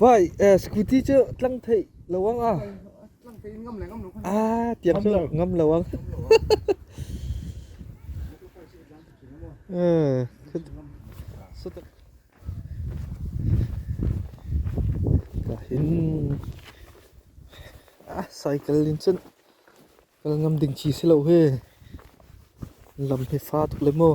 Bai scooty cu tlang theih lawang ah ah tiam cu ngam lawang. Eh. Ka hin ah cycle in cun kal ngam ding chi si lo he lam hi fa tuk le maw.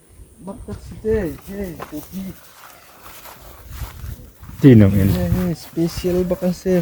Tihnung in. Special bak an si.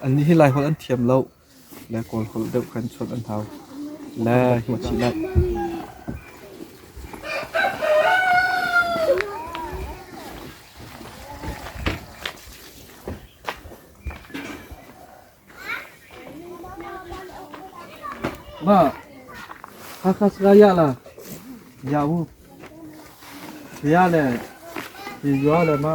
An nih hi Laiholh an thiam loh le Kawlholh deuh khan chuan an hau le hi maw thih naih. Ma, Hakha Seraya la, Yawu, Saya le, Yua le Ma.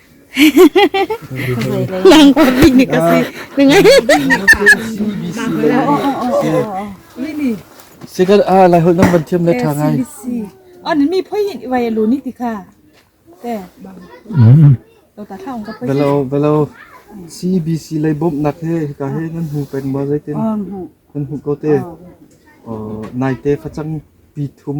Sikat ah lai hol nang ban thiam le tha ngai. An mi phoi hin wai lu ni ti kha. Te. To ta thang ka phoi. Belo belo CBC lai bom nak he ka he nan hu pen ma zai tin. Nan hu ko te. Nai te khachang pi thum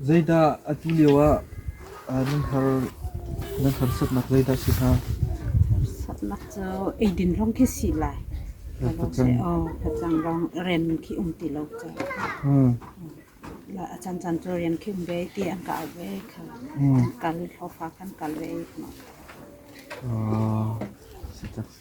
Zeidah atu lio ah nan har nan harsatnak zeidah a si hnga? Harsatnak cu eidin lawng khi si lai. Facang aw facang lawng rem khi um ti lo cu. Hmm. La a chan chan cu rian khi um ve ti an ka au ve kha. Hmm. Kal thlofa khan kal ve. Ah, si tak si.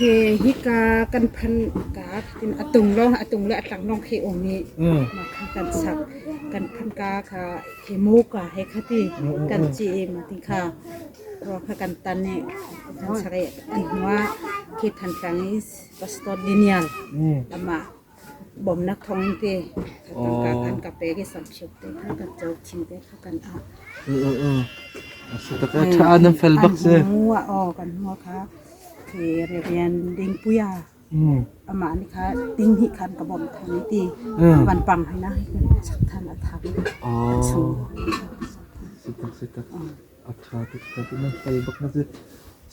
Hi hika kan phan ka tin a tung lo a tung le a tlang long khi um i ma kha kan sak kan phan ka kha hi mu ka he khati kan chi ma ti kha ro kha kan tan i kan sak i an hua khi than tlang is pastor daniel lama Bawmhnak thawngte tangka kan ka pek i samhsep te kha kan co, thing te kha kan ah. Ṭha na fel bak si. An hmu aw kan hmu kha khi Reverend Dingpuia amah nih kha ding hi khan ka bawmh than i ti an van pang hai na sak than a thang a chung. Sitak sitak. A ṭha tuk ṭha tuk nan hlai bak na si.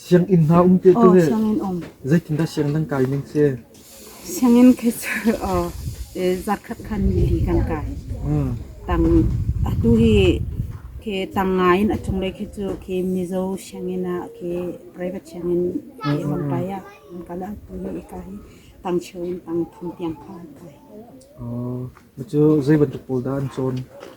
Sianginn hna um te cu le sianginn um. zeitindah sianginn nan kai ning si? Sianginn khi cu uh, eh, zarkhat khan nili kan kai. Mm. Tang atu hi khi tang ngai in a cunglei khi cu khi Mizo sianginn ah khi private sianginn khi van kai ah van kal ah tu hi ika hi tang cheu in tang thum tiang kha an kai. Oh, cu zei bantuk pawl dah an cawn?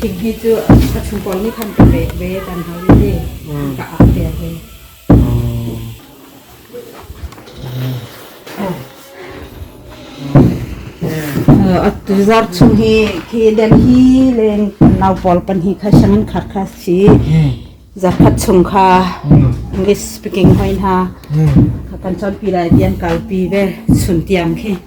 Thinghi cu a chung pawl nih khan ka pek ve tan hau i ni ka ah tel ve. Tuzar chung hi khi Delhi leng nau pawl pan hi kha shamin khar kha si zarkhat chung kha English speaking hoin ha kan chon pi lai tian kalpi ve sun tiang khi